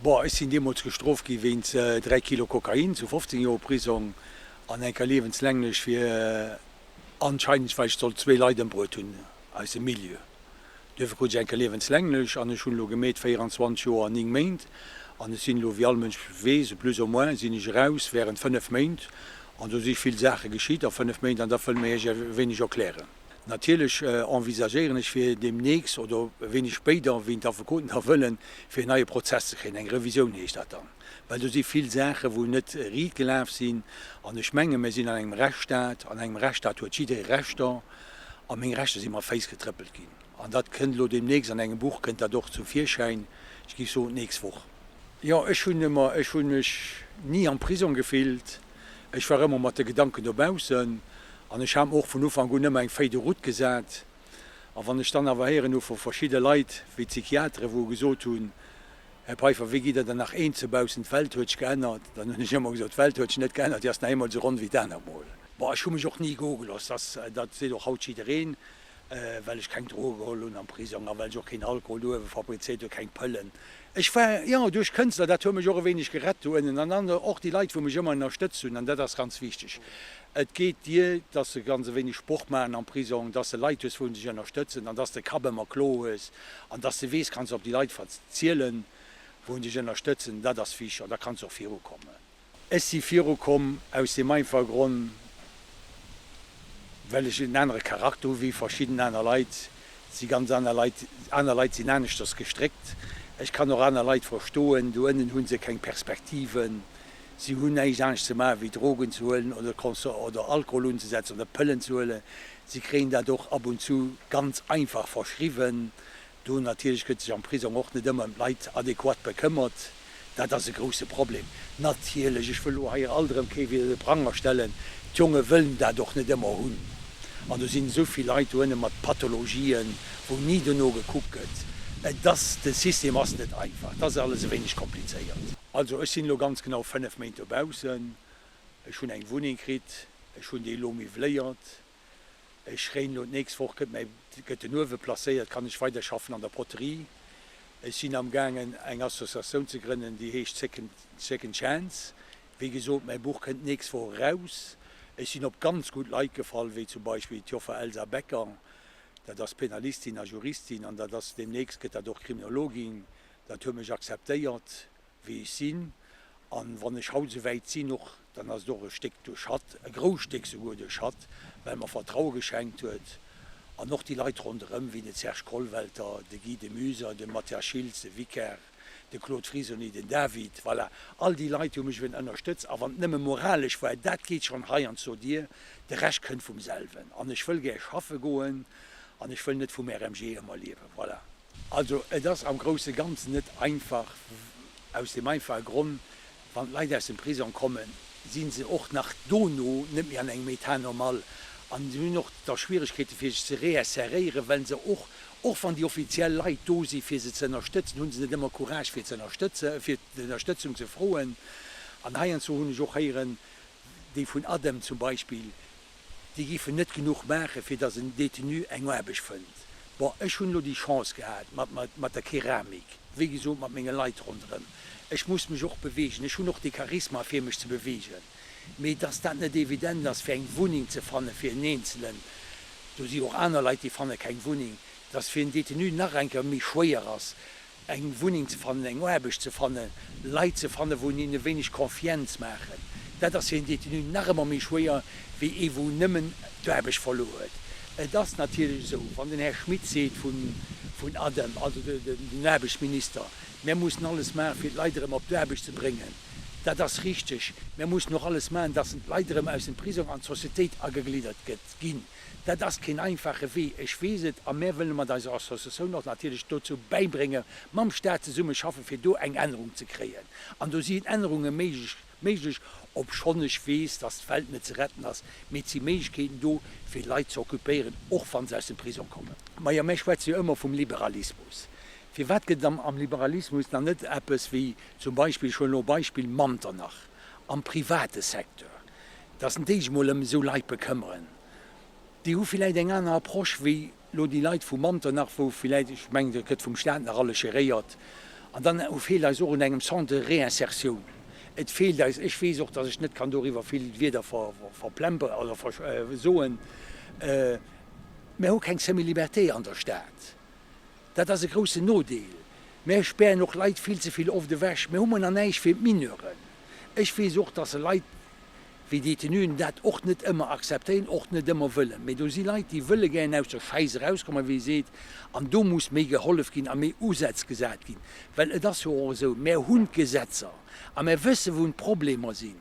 Bon, ech sinn deemools gestroft gi wéinst 3 Kilo Kokain, zu 15 Joer Prisong an enker liewenslänglech fir anscheinend, well ech soll zwee Leit ëmbruet hunn aus dem Milieu. Duerfir krut ech enker liewenslänglech an ech hunn elo gemeet 24 Joer 9 Méint an ech sinn elo, wéi all Mënsch weess, plus ou moins sinn ech eraus während 5 Méint an do si vill Saache geschitt a 5 Méint an dat wëll mir Iech e wéineg erklären. Natierlech envisagéieren ech fir deemnächst oder wéineg spéider, wéi d'Affekoten da wëllen, fir en neie Prozess ze kréien. Eng Revisioun heescht dat dann. Well do si vill Saachen, wou net riit gelaf sinn. An ech menge mir sinn an engem Rechtsstaat. An engem Rechtsstaat huet jidderee Rechter. A meng Rechter si mat Féiss getrëppelt ginn. An dat kënnt elo deemnächst, an engem Buch kënnt dat och zum Virschäin, ech géif soen d'nächst Woch. Jo, ech hunn ëmmer, ech hunn mech ni am Prisong gefillt, ech war ëmmer mat de Gedanken dobaussen an ech hat mer och vun Ufank un ëmmer eng Feuille de route gesat. A wann ech dann awer héieren hu vu verschidde Leit, wéi d'Psychiatere wou gesot hunn, Här Peiffer, wéi gitt Der dann nach eenze baussen, d'Welt huet sech geännert, dann hunn ech ëmmer gesot, d'Welt huet sech net geännert, déi ass nach eemol esou ronn wéi d'Anermol. Bon, ech hu mech och ni gogelooss, dass, dat seet och haut jiddereen, well ech keng Droge geholl hunn am Prisong a well ech och keen Alkohol dohewe fabrizéiert hunn, keng Pëllen. Ech war, jo, duerch Kënstler, dat huet mech och e wéineg gerett dohennen an dann och déi Leit wou mech ëmmer ënnerstëtzt hunn an dat ass ganz wichteg. Et geet dir, dass de ganz e wéineg Sport maachen am Prisong, dass de Leit hues wou dech ënnerstëtzen an dass de Kapp ëmmer kloer hues an dass de weess, kanns op déi Leit verzielen wou dech ënnerstëtzen, dat ass wichteg an da kanns de och virukommen. Ech si viru komm aus deem einfache Gronn, well ech en anere Charakter hu wéi verschidden aner Leit. Et si ganz aner Leit, aner Leit sinn aneschters gestréckt. Ech kann och aner Leit verstoen. Do ënnen hu se keng Perspektiven. Si hunn näischt anescht ze maachen, wéi Drogen ze huelen oder Conso oder Alkohol unzesetzen oder Pëllen ze huelen. Si kréien dat och ab und zu ganz einfach verschriwwen. Do natierlech gëtt sech am Prisong och net ëmmer ëm d'Leit adequat bekëmmert. Dat ass e grousse Problem. Natierlech, ech wëll elo hei alt erëm kee wier de Pranger stellen, d'Jonge wëllen dat och net ëmmer hunn. An do sinn esou vill Leit doënne mat Pathologien, wou ni dono gekuckt gëtt. Et ass, de System ass net einfach. Et ass alles e wéineg komplizéiert. Also ech sinn elo ganz genau 5 Méint dobaussen. Ech hunn eng Wunneng kritt. Ech hunn déi elo miwwléiert. Ech réen elo, d'nächst Woch gëtt mäi gëtt den Uewe placéiert, kann ech weiderschaffen an der Poterie. Ech sinn am gaangen eng Associatioun ze grënnen, déi heescht Second Second Chance. Wéi gesot, mäi Buch kënnt d'nächst Woch eraus. Ech sinn op ganz gutt Leit gefall, wéi zum Beispill d'Joffer Elsa Becker, dat ass Penalistin a Juristin an dat ass deemnächst gëtt dat och Kriminologin, dat huet mech acceptéiert. wéi ech sinn, an wann ech haut souwäit sinn och, dann ass et och e Stéck duerch hatt, e grousst Stéck souguer duerch hatt, well mer Vertraue geschenkt huet, an och déi Leit ronderëm, wéi de Serge Kollwelter, de Guy de Muyser, de Mathias Schiltz, de Vicaire, de Claude Frisoni, den David, voilà, all déi Leit hu mech eben ënnerstëtzt, a wann et nëmme moralesch war, dat geet schonn hei an zur Dier, de Rescht kënnt vum selwen, an ech wëll gär schaffe goen, an ech wëll net vum RMG ëmmer liewen, voilà. Also et ass am grousse Ganzen net einfach, aus deem einfache Gronn, wann d'Leit aus dem Prisong kommen, si se och nach dono net méi an engem État normal an hunn och da Schwieregkeete fir sech ze réinseréieren, well se och, och wann déi offiziell Leit do si fir se ze ënnerstëtzen, hu se net ëmmer Courage fir ze ënnerstëtzen, fir d'Ënnerstëtzung ze froen. An heiansdo hunn ech och héieren, déi vun ADEM zum Beispill, Déi giffen net genuch maachen, fir dass en Détenu eng Aarbecht fënnt. Bon, ech hunn elo déi Chance gehat mat der Keramik, wéi gesot, mat menge Leit ronderëm. Ech muss mech och beweegen, ech hunn och de Charisma, fir mech ze beweegen. Mee dass dat net evident ass, fir eng Wunneng ze fannen fir en Eenzelen, do si jo och aner Leit, déi fanne keng Wunneng, dass fir en Détenu nach eng Kéier méi schwéier ass, eng Wunneng ze fannen, eng Aarbecht ze fannen, Leit ze fannen, wou een e wéineg Confiance maachen. Dat ass fir en Détenu nach ëmmer méi schwéier wéi ee wou nëmmen d'Aarbecht verluer huet. Et ass natierlech esou, wann den Här Schmit seet vun ADEM, also den Aarbechtsminister, Mir mussen alles maachen, fir d'Leit erëm op d'Aarbecht ze bréngen. Dat ass richteg. Mir mussen och alles maachen, datt d'Leit erëm aus dem Prisong an d'Sociétéit agegliddert ginn. Dat ass keen einfache Wee, ech weess et, a mär wëlle mat eiser Associatioun och natierlech dozou bäibrénge mam Stat zesumme schaffen, fir do eng Ännerung ze kréien. An do sinn Ännerunge méiglech, obschonn ech weess, dass d'Welt net ze retten ass, mee et si Méiglechkeeten do, fir Leit ze occupéieren, och wa se aus dem Prisong kommen. Majo, mär schwätze jo ëmmer vum Liberalismus. Firwat gëtt et am Liberalismus dann net eppes wéi zum Beispill, ech huelen elo e Beispill, Manternach? am private Secteur, dass en déi sech mol ëm esou Leit bekëmmeren, déi hu villäit eng aner Approche wéi elo déi Leit vu Manternach, wou villäit, ech mengen, dat gëtt vum Stat nach alles geréiert. An dann feelt eis och un engem Centre de réinsertion, et feelt eis, ech weess och, dass ech net kann doriwwer vill Wieder verplemperen oder soen, mer hu keng semi-liberté an der Stad. Dat ass e groussen Nodeel. Mär spären och Leit vill ze vill oft ewech. Mär hu manner näischt fir d'Mineuren. Ech weess och, dass Leit wéi Détenuen dat och net ëmmer akzeptéieren, och net ëmmer wëllen. Mee do si Leit, déi wëlle gären aus der Schäiss erauskommen, wéi ee seet. An do muss méi gehollef ginn a méi Usätz gesat ginn. Well et ass jo och esou, mär hunn d'Gesetzer a mär wësse wou d'Problemer sinn.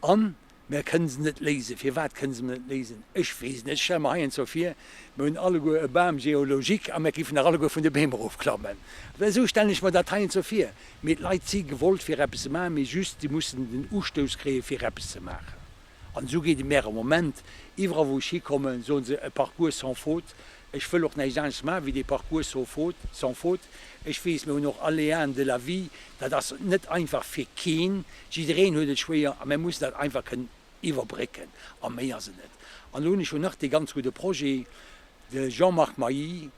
An Mär kënnen se net léisen. Firwat kënnen se net léisen? Ech weess net. Ech stelle mer heiansdo vir, mär hunn alleguer e Bam géologique a mär giffen nach alleguer vun de Beem erofklammen. Well esou stellen ech mer dat heiansdo vir. Mee d'Leit si gewollt fir eppes ze maachen, mee just si mussen den Ustouss kréien fir eppes ze maachen. An esou geet et mär am Moment. Iwwerall wou ech hikommen, soen se, e parcours sans faute, Ech wëll och näischt anescht maachen, wéi dee Parcours so faute, sans faute. Ech weess, mir hunn och Aléaen de la vie, dat ass net einfach fir keen. Jiddereen huet et schwéier a mir mussen dat einfach kënnen iwwerbrécken a méi ass et net. An elo hunn ech jo nach dee ganz gudde Projet, de Jean-Marc Mailly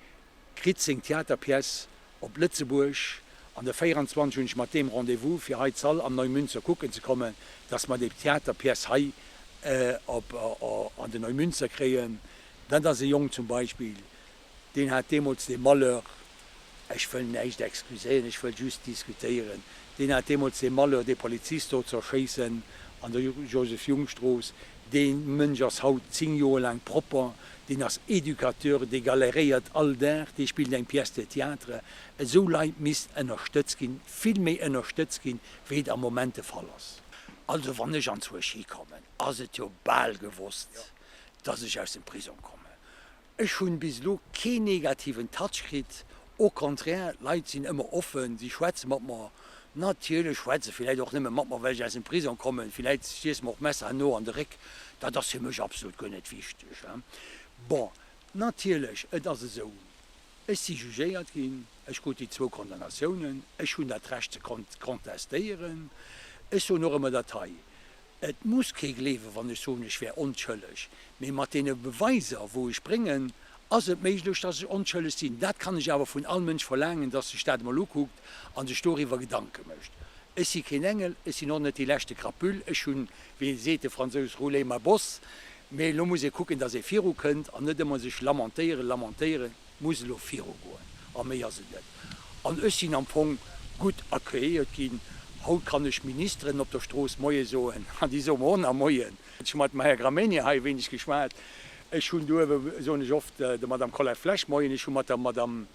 kritt seng Theaterpièce op Lëtzebuerg an de 24 hunn ech mat deem Rendez-vous, fir hei d'Sall am Neumünster kucken ze kommen, dass mer déi Theaterpièce hei an de Neumünster kréien. Dat ass e Jong zum Beispill, deen hat deemools dee Malheur, ech wëll näischt excuséieren, ech wëll just diskutéieren, deen hat deemools dee Malheur, dee Polizist do ze erschéissen an der Joseph-Jung-Strooss. Dee Mënsch ass haut zéng Joer laang propper, deen ass Educateur, dee galéréiert all Dag, dee spillt eng Pièce de Théâtre. Esou Leit misst ënnerstëtzt ginn, vill méi ënnerstëtzt ginn, wéi et am Moment de Fall ass. Also, wann ech an d'Suechi kommen, ass et jo bal gewosst, dass ech aus dem Prisong kommen. Ech hunn bis elo keen negativen Touch kritt, au contraire, d'Leit sinn ëmmer offen, si schwätze mat mer. Natierlech schwätze se villäit och nëmme mat mer, well ech aus dem Prisong kommen, villäit stieche se mer och d'Messer no an de Réck, dat ass fir mech absolut guer net wichteg. Bon, natierlech, et ass esou, ech si jugéiert ginn, ech krut déi zwou Condamnatiounen, ech hunn dat Recht ze contestéieren. Ech soen och ëmmer dat hei. Et muss kee gleewen, wann ech soen, ech wär onschëlleg. Mee mat deene Beweiser, wou ech bréngen, ass et méiglech, dass ech onschëlleg sinn. Dat kann ech awer vun all Mënsch verlaangen, dass sech dat emol ukuckt a sech doriwwer Gedanke mécht. Ech si keen Engel, ech sinn och net dee leschte Krapüll. Ech hunn, wéi seet de Fransous, roulé ma bosse. Mee elo muss ee kucken, dass ee virukënnt an net ëmmer sech lamentéieren, lamentéieren. muss elo virugoen a méi ass et net. An ech sinn am Fong gutt accueilliert ginn. Haut kann ech Ministeren op der Strooss Moie soen an déi soe mer och nach Moien. Ech hu mat dem Här Gramegna hei e wéineg geschwat. Ech hunn do ebe, soen ech oft, der Madame Collet-Flesch Moien, ech hu mat der Madame,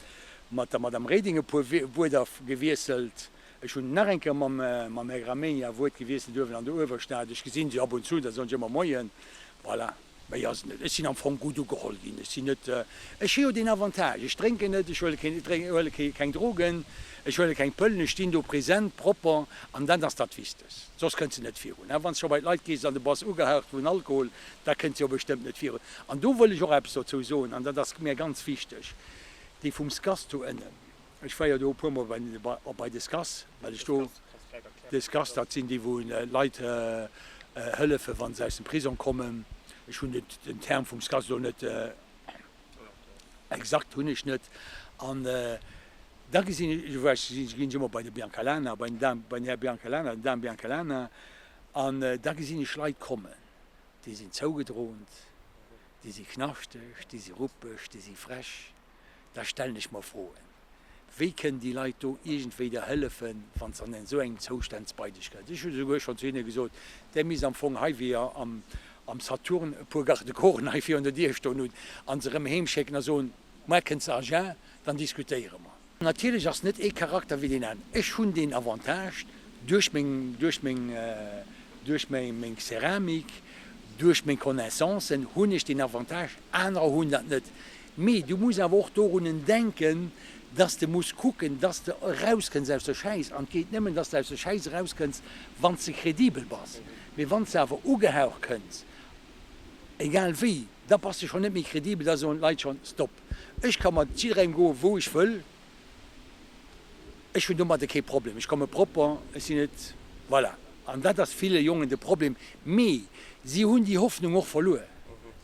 mat der Madame Reding e puer Wuerter gewiesselt. Ech hunn nach eng Kéier mam, mam Här Gramegna e Wuert gewiesselt uewen an der Uewerstad. Ech gesinn se ab und zu, da soen ech ëmmer Moien. Voilà. Méi ass et net. Ech sinn am Fong gutt ugeholl ginn. Ech sinn net, ech hu jo deen Avantage, ech drénken net, ech huele keen, ech huele kee, keng Drogen, ech huele keng Pëllen, ech stinn do present, propper, an dat ass dat Wichtegst. Soss kënns de net virun. Wann s de scho bei d'Leit gees an de bass ugehaucht vun Alkohol, da kënns de jo bestëmmt net virun. An do wëll ech och eppes dozou soen, an dat ass mir ganz wichteg, déi vum SCAS do ënnen, Ech war jo do e puer mol bei op bei Descass, well ech do Descass, dat sinn déi wou Leit hëllefen wann se aus dem Prisong kommen. Ech hunn den den Term vum Scass elo net exakt hunn ech net an da gesinn ech war ech si ginn ech ëmmer bei de Biancalana bei den Dame bei den Här Biancalana den Dame Biancalana an da gesinn ech Leit kommen, déi sinn zougedrohnt, déi si knaschteg, déi si ruppeg, déi si frech. da stellen ech mer Froen. Wéi kënnen déi Leit do iergendwéi der hëllefen, wann se an esou engem Zoustand ze Beideg gëllen? Ech hu souguer schonn zu hinne gesot, Der misst am Fong hei, wéi der am Saturn e puer Garde-corpsen hei virun der Dier stoen hutt, an se erëm heem schécken a soen, Muer kënnt se a Jeun, dann diskutéiere mer. Natierlech ass net ee Charakter wéi deen aneren. Ech hunn deen Avantage, duerch meng, duerch meng, duerch meng Ceramik, duerch meng Connaissancen hunn ech deen Avantage, anerer hunn dat net. Mee du muss awer och dorunnen denken, dass de muss kucken, dass de erauskënns aus der Schäiss. An et geet nëmmen, dass de aus der Schäiss erauskënns, wann s de kredibel bass. Mee wann s de awer ugehaucht kënns, egal wéi, da bass de schonn net méi kredibel. Da soen d'Leit schonn, Stop, ech ka mat jidderengem goen, wou ech wëll. Ech hunn domadde kee Problem. Ech komme propper, ech sinn net, voilà. An dat ass ville Jongen de Problem. Mee si hunn déi Hoffnung och verluer.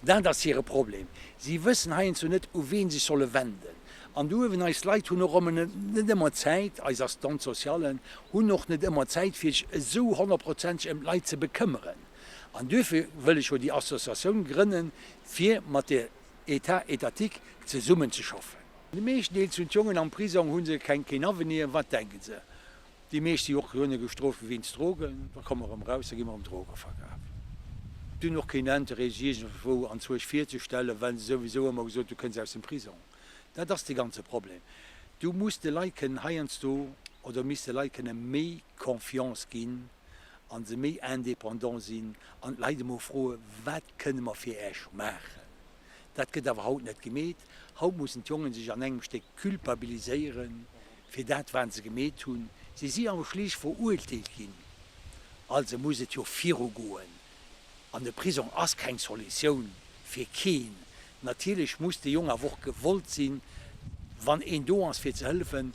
Dat ass hire Problem. Si wëssen heiansdo net, u wee sech solle wenden. An do uewen, eis Leit hunn och ëmmer net, net ëmmer Zäit, eis Assistante sociale hunn och net ëmmer Zäit, fir sech esou honnertprozenteg ëm d'Leit ze bekëmmeren. An duerfir wëll ech jo déi Associatioun grënnen, fir mat der État étatique zesummen ze schaffen. De meeschten Deel zun d'Jongen am Prisong hunn se keng keen Avenir. Wat denken se? Déi meescht si och duerno gestroft gi wéinst Drogen. Da komme mer erëm raus, da gi mer erëm Drogen verkafen. Déi hunn och keen Interêt sech iergendwou an Zueg virzestellen, well se souwisou ëmmer gesot hu kënn se aus dem Prisong. Dat ass de ganze Problem. Du muss de Leit kënnen heiansdo oder misst de Leit kënne méi Confiance ginn an se méi indépendant sinn an d'Leit emol froe wat kënne mer fir Äech maachen. Dat gëtt awer haut net gemeet. Haut mussen d'Jongen sech an engem Stéck culpabiliséieren fir dat wat se gemeet hunn. Si si awer schlicht veruerteelt ginn, also muss et jo viru goen. An de Prisong ass keng Solutioun fir keen. Natierlech muss de Jong awer och gewollt sinn, wann een do ass fir ze hëllefen,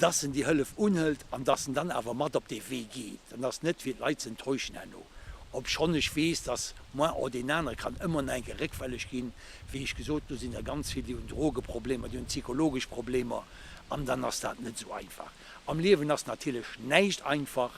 dass en déi Hëllef unhëlt an dass en dann awer mat op dee Wee geet an dass net fir d'Leit ze enttäuschen herno, obschonn ech weess, dass moins o deen anere kann ëmmer nach eng Kéier réckfälleg ginn. Wéi ech gesot hunn, do sinn der ganz vill, déi hunn Drogeproblemer, déi hunn psychologesch Problemer an dann ass dat net esou einfach. Am Liewen ass natierlech näischt einfach,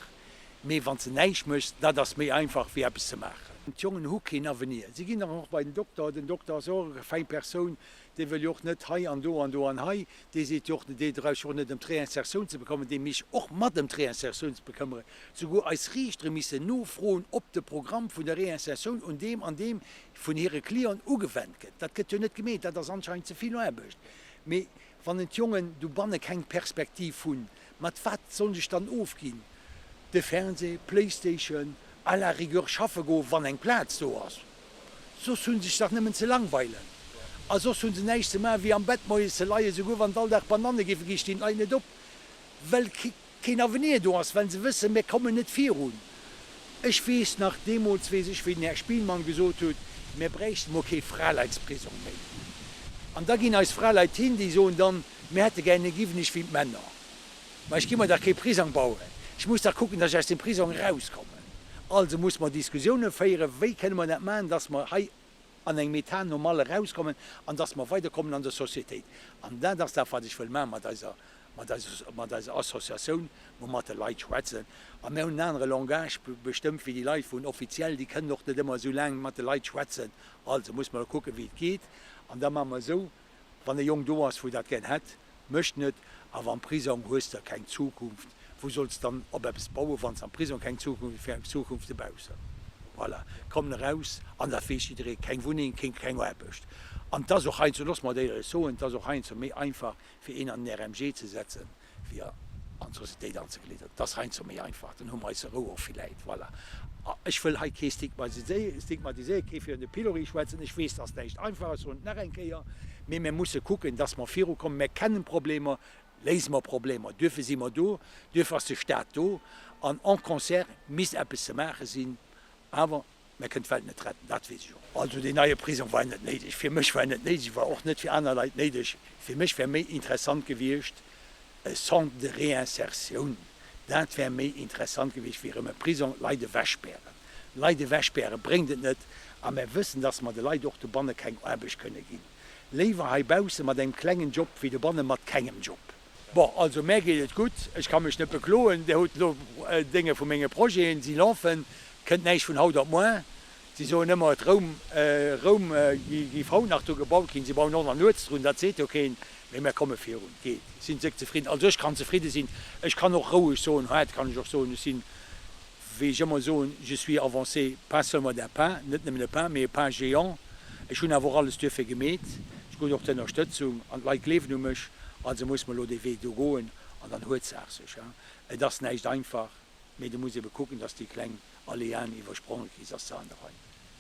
mee wann s de näischt méchs, dat ass méi einfach wéi eppes ze maachen. D'Jongen hu keen Avenir, si ginn dann och bei den Dokter, den Dokter ass och eng fäi Persoun, Dee wëll jo och net hei an do an do an hei. Dee seet jo och net, dee dreift jo och net ëm d'Réinsertioun ze bekëmmeren, dee mischt och mat ëm d'Réinsertioun ze bekëmmeren. Souguer eis Riichtere missen nofroen, ob de Programm vun der Réinsertioun un deem an deem vun hire Clienten ugewennt gëtt. Dat gëtt jo net gemeet. Dat ass anscheinend ze vill Aarbecht. Mee wann en d'Jongen dobanne keng Perspektiv hunn, mat wat sollen sech dann ofginn? De Fernseh, Playstation, à la rigueur schaffe goen, wann eng Plaz do ass. Soss hunn sech dach nemmen ze langweilen a soss hunn se näischt ze maachen wéi am Bett moies ze leien. Souguer wann all Dag Bananne géife ginn, stinn d'Leit net op well keen Avenir do ass, well se wëssen mir kommen net virun. Ech weess nach, deemools weess ech wéi den Här Spielmann gesot hutt, mir bräichte mol kee Fraleitsprisong méi. An da ginn eis Fraleit hin, déi soen dann, mir hätte gären e Giwwenig wéi d'Männer. Mä ech gi mer dach kee Prisong bauen, ech muss dach kucken, datt ech aus dem Prisong erauskommen. Also musse mer Diskussiounen féieren, wéi kënne mer dat maachen, datt mer hei an engem Etat normal erauskommen an datt mer weiderkommen an der Sociétéit. An dat ass dat, wat ech wëll maachen mat eiser, mat eiser, mat eiser Associatioun, wou mer mat de Leit schwätzen. A mir hunn en anere Langage bestëmmt wéi déi Leit vun Offiziell, déi kënnen och net ëmmer esou laang mat de Leit schwätzen. Also musse mer elo kucken, wéi et geet. An da maache mer esou, Wann e Jong do ass wou dat gären hätt, mécht en et. Awer am Prisong hues de keng Zukunft. Wou solls de dann op eppes bauen, wann s am Prisong keng Zukunft hues? Wéi eng Zukunft dobaussen? Voilà, kommen eraus, an dat weess jidderee, keng Wunneng, keng, keng Aarbecht. An 't ass och heiansdo, looss mer dat éierlech soen, 't ass och heiansdo méi einfach fir een an den RMG ze setzen, fir an d'Societéit anzeglidderen. Et ass heiansdo méi einfach, dann hu mer eis Rou och villäit. Voilà. Ech wëll hei kee stigmatiséieren, kee virun de Pilori schwätzen. Ech weess, dass näischt einfach ass, soen et nach eng Kéier. Mee mir musse kucken, dass mer virukommen. Mer kennen Problemer, léise mer Problemer. Duerfir si mer do, duerfir ass de Staat do. An en concert misst eppes ze maache sinn. Awer Mä e kënnt d'Welt net retten, dat weess ech och. Also deen neie Prisong war net néideg. Fir mech war en net néideg, e war och net fir aner Leit néideg. Fir mech wär méi interessant gewiescht e Centre de réinsertion, dat wär méi interessant gewiescht wéi erëm e Prisong. Leit ewechspären, Leit ewechspäre bréngt et net. A mer wëssen, datt mer de Leit och dobanne keng Aarbecht kënne ginn. Léiwer heibausse mat engem klengen Job wéi dobanne mat kengem Job. Bon, also mär geet et gutt, ech ka mech net bekloen. Dir hutt elo d'Dénge vu menge Projeten, si lafen, et kënnt näischt vun haut op moar. Si soen ëmmer, et Roum, Roum giff haut nach do gebaut ginn, si bauen och nach nuets drun, dat seet jo keen, mee mär komme virun. Geet, sinn d'Séck zefridden? Also ech kann zefridde sinn, ech kann och roueg soen, hât kann ech och soen, ech sinn. Wéi ech ëmmer soen, je suis avancé, pas seulement d'un pas, net nëmmen e Pas, mee e Pas géant. Ech hunn awer och alles duerfir gemeet. Ech krut och d'Ënnerstëtzung an d'Leit gleewen u mech. Also muss mer elo dee Wee do goen an dann huet d'Saach sech. Et ass näischt einfach, mee du muss ebe kucken, dass s de déi kleng Aléaen iwwerspronge kriss, dass s de heinarein